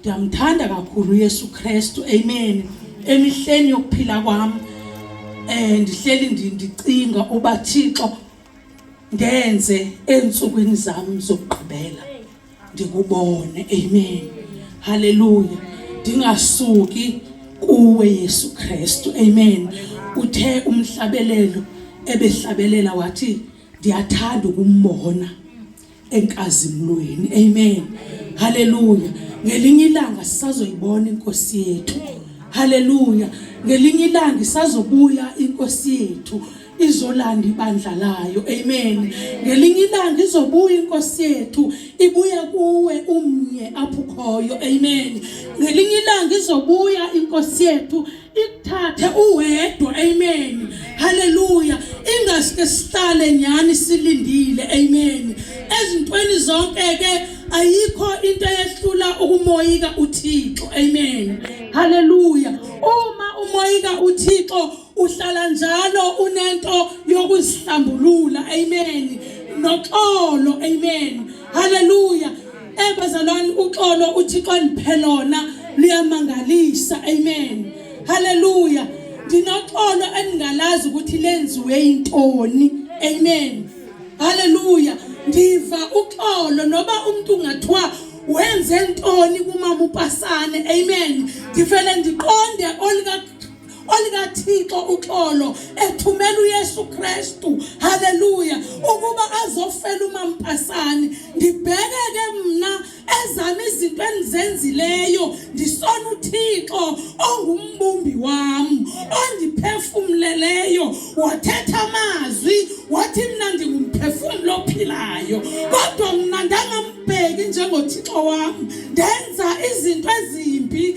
Ndiyamthanda kakhulu uYesu Kristu. Amen. Emihleni yokuphila kwami eh ndihleli ndicinga uba Thixo ngenze ensukwini zami zokugqibela ndikubone. Amen. Hallelujah. Ndingasuki kuwe Yesu Kristu. Amen. Uthe umhlabelelo ebehlabelela wathi ndiyathanda ukumbona. enkazimulweni amen haleluya ngelinye ilanga sisazoyibona inkosi yethu haleluya ngelinye ilanga isazobuya inkosi yethu izolanda ibandla layo amen ngelinye ilanga izobuya inkosi yethu ibuya kuwe umnye apho khoyo amen ngelinye ilanga izobuya inkosi yethu ikuthathe uwedwa amen haleluya ingasike sihlale nyani silindile amen ezintweni zonke ke ayikho into eyehlula ukumoyika uThixo amen haleluya uma umoyika uThixo uhlala njalo unento yokuzihlambulula amen noxolo amen haleluya Eh bazalwane uxolo uThixo andiphe lona luyamangalisa. Amen. Hallelujah. Ndinoxolo endingalazi ukuthi lenziwe intoni. Amen. Hallelujah. Ndiva uxolo noba umuntu ungathiwa wenze ntoni kumama upasane. Amen. Ndivele ndiqonde olika olikaThixo uxolo ethumela uYesu Kristu haleluya ukuba azofela umampasani ngibheke ke mina ezami izinto engizenzileyo ndisona uThixo ongumbumbi wami ondiphefumleleyo wathetha amazwi wathi mina ndingumphefumulo ophilayo kodwa mina ndangambheki njengoThixo wami ndenza izinto ezimbi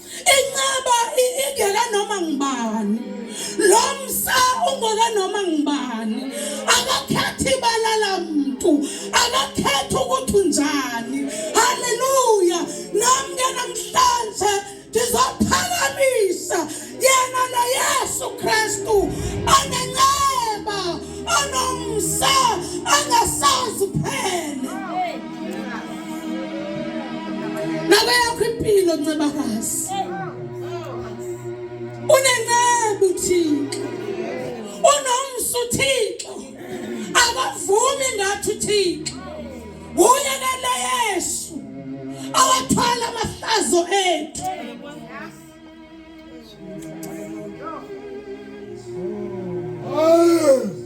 Incaba ingela noma ngubani. Lo msa ungela noma ngubani. Akakhethi balala muntu, akakhethi ukuthi unjani. Haleluya. Nami ke namhlanje ndizophakamisa yena lo Yesu Kristu onenceba onomsa angasazi phela. Nalo yakho impilo ncebakazi. Unencebu Thixo. Unomsu Thixo. Akavumi ngathi Thixo. Uye kale Yesu. Awathwala amahlazo ethu.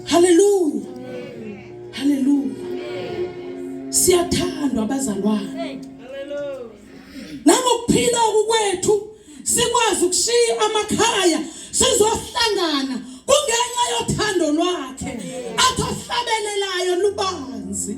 Haleluya. Haleluya. Siyathandwa abazalwane. Nangokuphila okwethu sikwazi ukushiya amakhaya sizohlangana kungenxa yothando lwakhe athohlabelelayo lubanzi.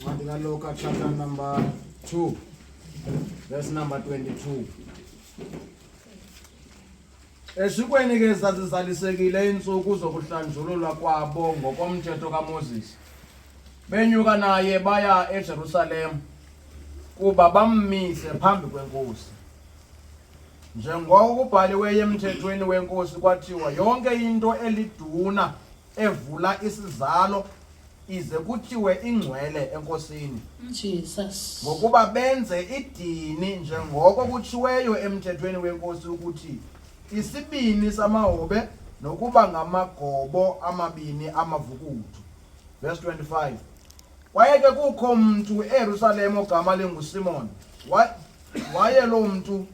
Ncwadi kaLuka chapter number 2 verse number 22. Esikweni ke zazizalisekile insuku zokuhlanjululwa kwabo ngokomthetho kaMoses. Benyuka naye baya eJerusalem kuba bammise phambi kwenkosi. Njengoko kubhaliweyo emthethweni wenkosi kwathiwa yonke into eliduna evula isizalo ize kuthiwe ingcwele enkosini Jesus ngokuba benze idini njengoko kutshiweyo emthethweni wenkosi ukuthi isibini samahobe nokuba ngamagobo amabini amavukuthu verse 25 kwaye ke kukho mntu eyerusalem ogama lingusimon waye loo mntu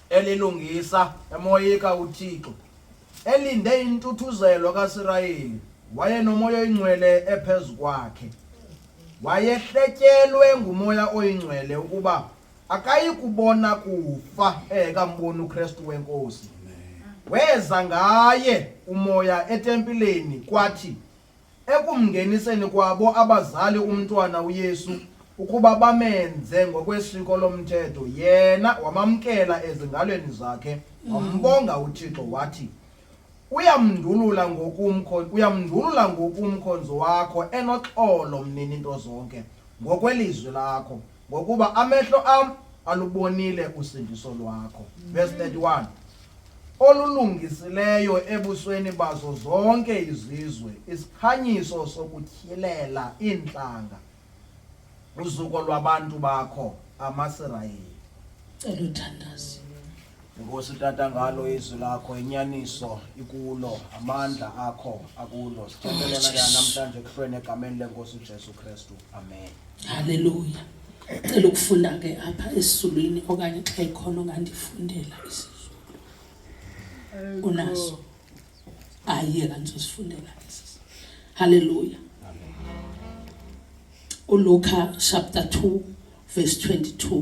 elilungisa emoyika uThixo, elinde intuthuzelo kaSirayeli, wayenomoya oyingcwele ephezu kwakhe. Wayehletyelwe ngumoya oyingcwele ukuba akayi kubona kufa engekamboni uKristu wenkosi. Weza ngaye umoya etempileni kwathi Ekumngeniseni kwabo abazali umntwana uYesu ukuba bamenze ngokwesiko lomthetho, yena wamamkela ezingalweni zakhe, wambonga uThixo wathi, Uyamndulula ngokumkho uyamndulula ngokumkhonzi wakho enoxolo mnini nto zonke, ngokwelizwi lakho. Ngokuba amehlo am alubonile usindiso lwakho. Verse 31. Olulungisileyo ebusweni bazo zonke izizwe, isikhanyiso sokutyhilela iintlanga, uzuko lwabantu bakho, amaSirayeli. Cela uthandaze. Nkosi tata ngalo izwi lakho inyaniso ikulo amandla akho akulo sithethelena ke Jesu. namhlanje kuhlweni egameni lenkosi uJesu Kristu amen Haleluya. Cela ukufunda ke apha esiZulwini okanye xa ikhona ongandifundela isiZulu. Unaso. Ayiye kanizosifundela isiZulu. Haleluya. uLuka chapter 2 verse 22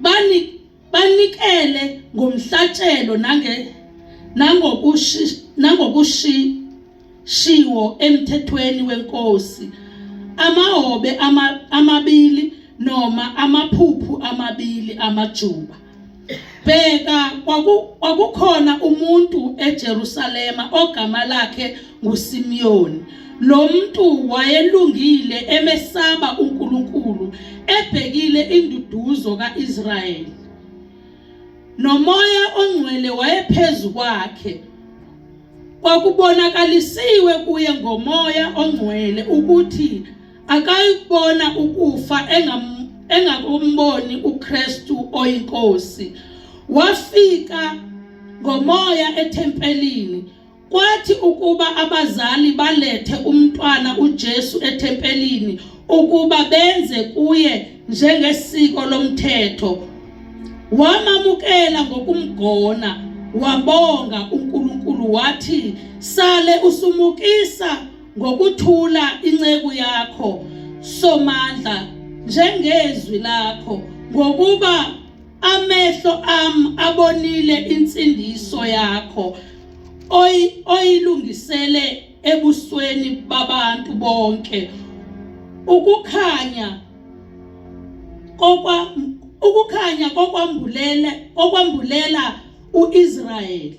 bani banikele ngomhlatshelo nange nangokushi nangokushiwo emthethweni wenkosi amahobe ama, amabili noma amaphuphu amabili amajuba bheka kwakukhona umuntu eJerusalema ogama lakhe nguSimiyoni. Lo muntu wayelungile emesaba uNkulunkulu ebhekile induduzo kaIsrayeli. Nomoya ongcwele wayephezu kwakhe. Kwakubonakalisiwe kuye ngomoya ongcwele ukuthi akayibona ukufa engam engakumboni uKristu oyinkosi. Wafika ngomoya ethempelini Kwathi ukuba abazali balethe umntwana uJesu ethempelini ukuba benze kuye njengesiko lomthetho wamamukela ngokumgona wabonga uNkulunkulu wathi sale usumukisa ngokuthula inceku yakho somandla njengezwi lakho ngokuba Amehlo am abonile insindiso yakho oy oyilungisele ebusweni babantu bonke ukukhanya kokwa ukukhanya kokwambulela kokwambulela uIsrayeli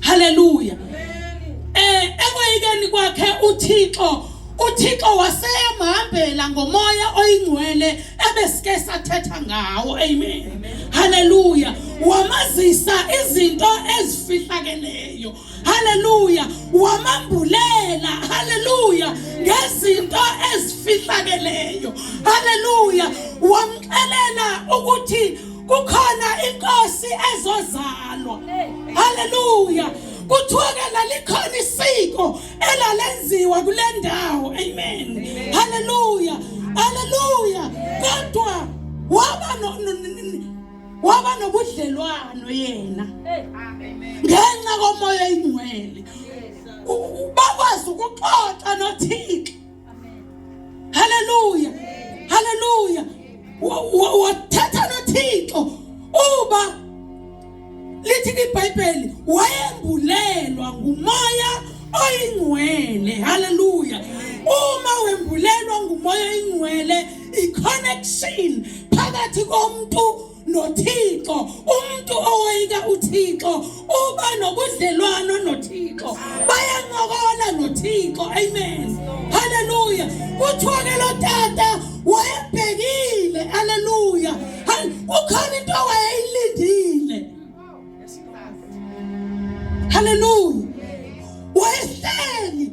haleluya eh ekwayikeni kwakhe uThixo uThixo waseyamhambela ngomoya oyingcwele ebesike sathetha ngawo amen haleluya wamazisa izinto ezifihlakeleyo haleluya wamambulela haleluya ngezinto ezifihlakeleyo haleluya wamxelela ukuthi kukhona inkosi ezozalwa haleluya kuthiwa ke lalikhona isiko elalenziwa kule ndawo amen haleluya haleluya kodwa waba waba nobudlelwano yena ngenxa komoya ingcwele bakwazi ukuxoxa nothixo haleluya haleluya wathetha nothixo uba lithi ibhayibheli wayembulelwa ngumoya oyingcwele haleluya uma wembulelwa ngumoya oyingcwele i-connection phakathi komuntu noThixo umuntu owayika uThixo uba nobudlelwano noThixo bayancokola noThixo amen haleluya kuthiwa ke lo tata wayebhekile haleluya kukhona into awayeyilindile haleluya wayehleli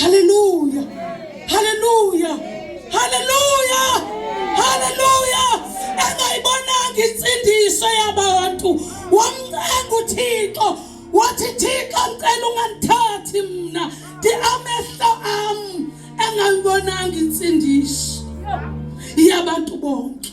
Haleluya. Haleluya. Haleluya. Haleluya. Engayibonanga insindiso yabantu. Wamncenga uThixo. Wathi Thixo ngicela ungangithathi mina. Di amehlo am engayibonanga insindiso yabantu bonke.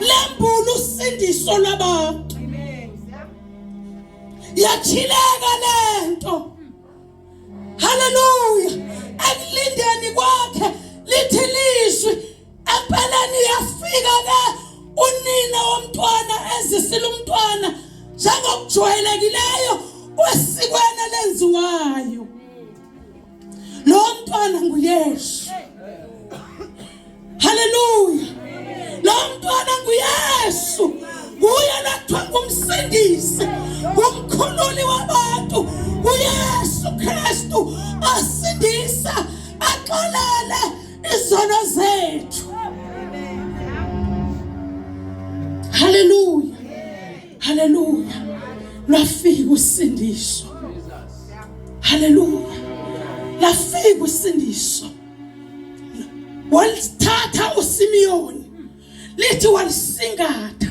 lembula usindiso lwabantu yachileka lento haleluya ekulindeni kwakhe lithi lizwi empeleni yafika ke unina womntwana ezisile umntwana njengokujwayelekileyo kwesikwana lenziwayo Lo mntwana nguYesu. Haleluya. Lo mntwana nguYesu. Nguye nakuthiwa ngumsindisi, ngumkhululi wabantu. UYesu Kristu asindisa, axolele izono zethu. Haleluya. haleluya lwafika usindiso haleluya lafika usindiso walithatha uSimiyoni lithi walisingatha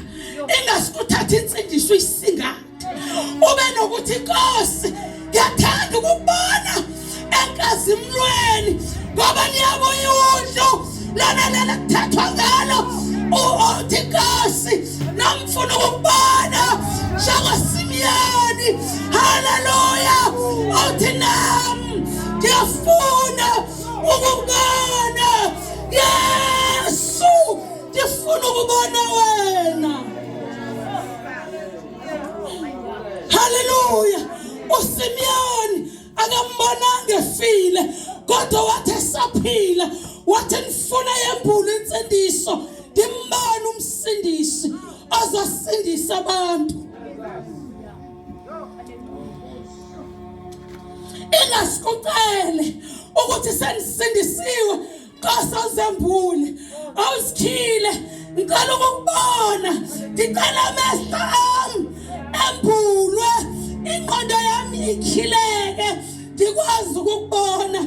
engasikuthatha insindiso isingatha ube nokuthi inkosi ngiyathanda ukubona enkazimlweni ngoba niyabo iwundlu lona lena kuthethwa ngalo uthi inkosi namfuna ukubona njengosimiyoni haleluya uthi nam ngiyafuna ukubona yesu ndifuna ukubona wena haleluya usimyoni akambonanga efile kodwa wathi esaphila wathi ngifuna yembulu insindiso ndimbani umsindisi ozosindisa abantu ingasikucele ukuthi sendisindisiwe Nkosi awuzembule awusikhile ngicela ukukubona ngicela amehlo ami embulwe ingqondo yami ikhileke ndikwazi ukukubona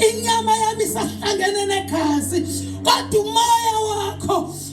inyama yami isahlangene negazi kodwa umoya wakho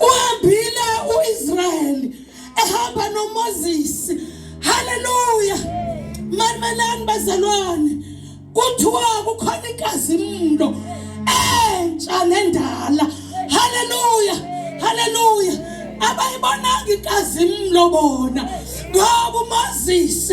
uhambile uIsrayeli ehamba noMoses haleluya mamelani bazalwane kuthiwa kukhona inkazimulo entsha nendala haleluya haleluya abayibonanga inkazimulo bona ngoba uMoses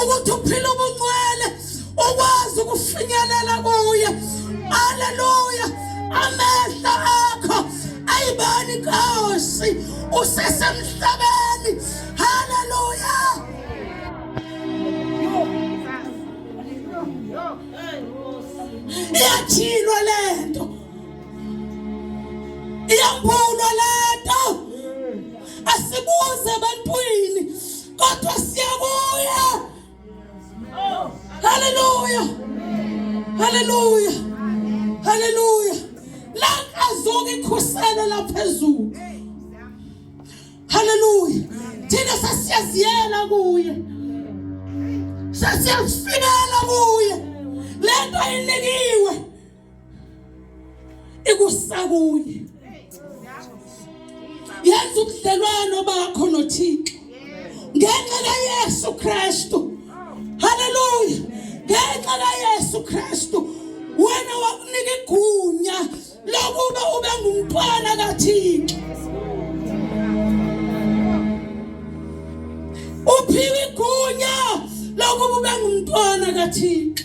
ukuthi uphila ubungcwele ukwazi ukufinyelela kuye haleluya amehlo akho ayibani Nkosi usesemhlabeni haleluya iyathilwa lento iyambulwa lento asibuze ebantwini kodwa siyabuya haleluya haleluya haleluya la azoke ikhusele la phezulu haleluya thina sasiyaziyela kuye sasiyazifika ikusakuye yenza ubudlelwano bakho noThixo ngenxa kaYesu Kristu haleluya ngenxa kaYesu Kristu wena wakunika igunya lokuba ube ngumntwana kaThixo uphiwe igunya lokuba ube ngumntwana kaThixo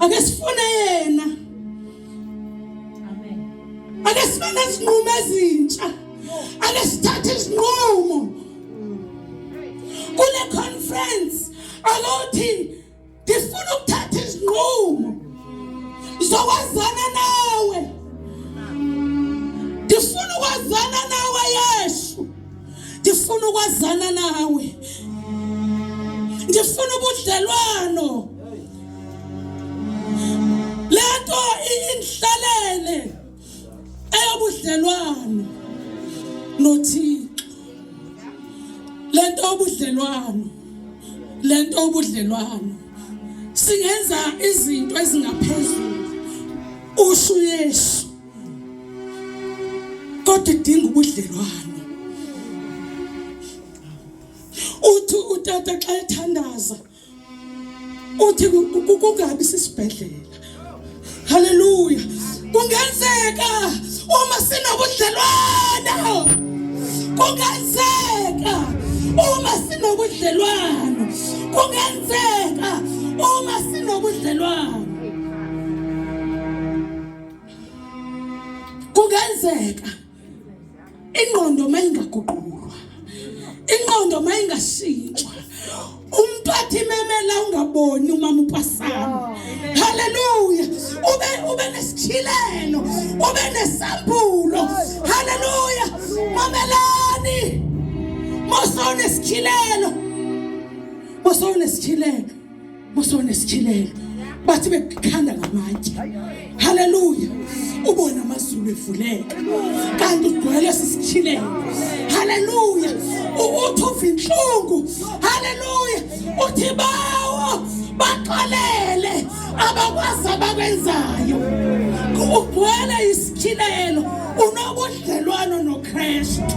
ake sifune yena amen ake sibe nezinqumo ezintsha ake sithathe izinqumo kule conference alothi ngifuna ukuthatha izinqumo zokwazana nawe ngifuna ukwazana nawe Yesu ngifuna ukwazana nawe ngifuna ubudlelwano lento inhlalele eyobudlelwano nothixo lento obudlelwano lento obudlelwano singenza izinto ezingaphezulu usho uyesu kodwa idinga ubudlelwano uthi utata xa ethandaza uthi kungabi sisibhedlela haleluya kungenzeka uma sinobudlelwano kungenzeka uma sinobudlelwano kungenzeka uma sinobudlelwano kungenzeka ingqondo uma ingaguqulwa ingqondo uma ingashintshwa umphathi imemela ungaboni umama upasana haleluya ube ube nesithilelo ube nesambulo haleluya mamelani mosawunesithilelo mosawunesithilelo musone sichilele bathi bekhanda ngamatshe haleluya ubona amazulu evuleka kanti ugcwele sisichilele haleluya uthi uva inhlungu haleluya uthi bawo baxolele abakwazi abakwenzayo ugcwele isichilelo unobudlelwano nokristu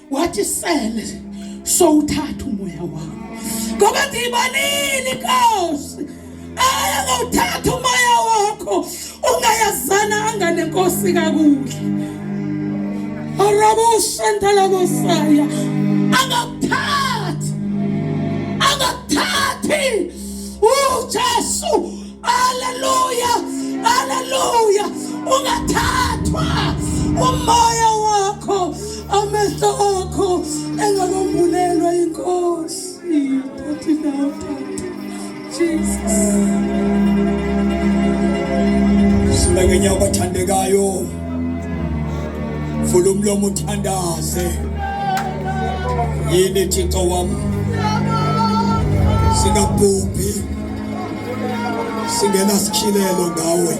wathi sele sowuthatha umoya wami ngoba ndiyibalile inkosi ayakuthatha umoya wakho ungayazana angane nkosi kakuhle arabushantalakusaya akakuthathi akakuthathi ujesu Haleluya! Haleluya! Ungathathwa umoya wakho amehlo akho engakombulelwa inkosi. Thathi nawe Jesus. Simekenye abathandekayo. Vula umlomo uthandaze. Yini Thixo wami? Singabhubhi. singena sikhilelo ngawe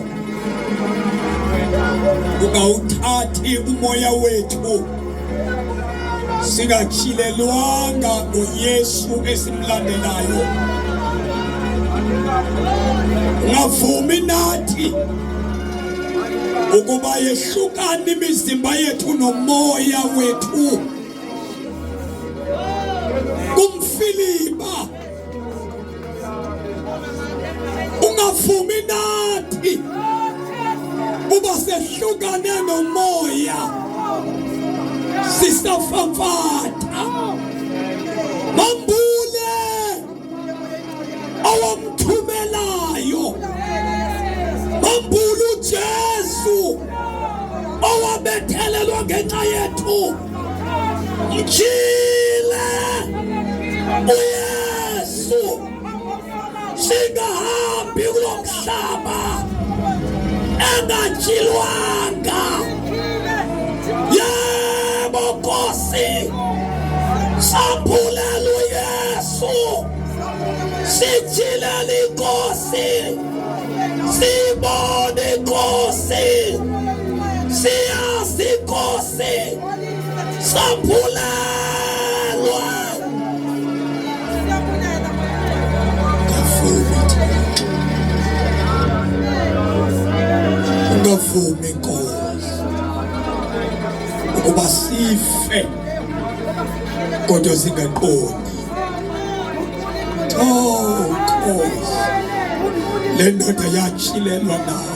ungawuthathi umoya wethu singakhilelwanga ngoyesu esimlandelayo ngavumi nathi ukuba yehlukane imizimba yethu nomoya wethu ungavumi nathi uba sehlukane nomoya sisafafata bambule awamthumelayo bambule uJesu owabethelelwa ngenxa yethu Mchile uYesu, singahambi kulo mhlaba engajilwanga. Yebo Nkosi, sambulela uYesu, sijilele iNkosi, sibone iNkosi, siyazi iNkosi. ungavumi nkosi ukuba sife kodwa singaqondi oh nkosi le ndoda yatshilelwa nayo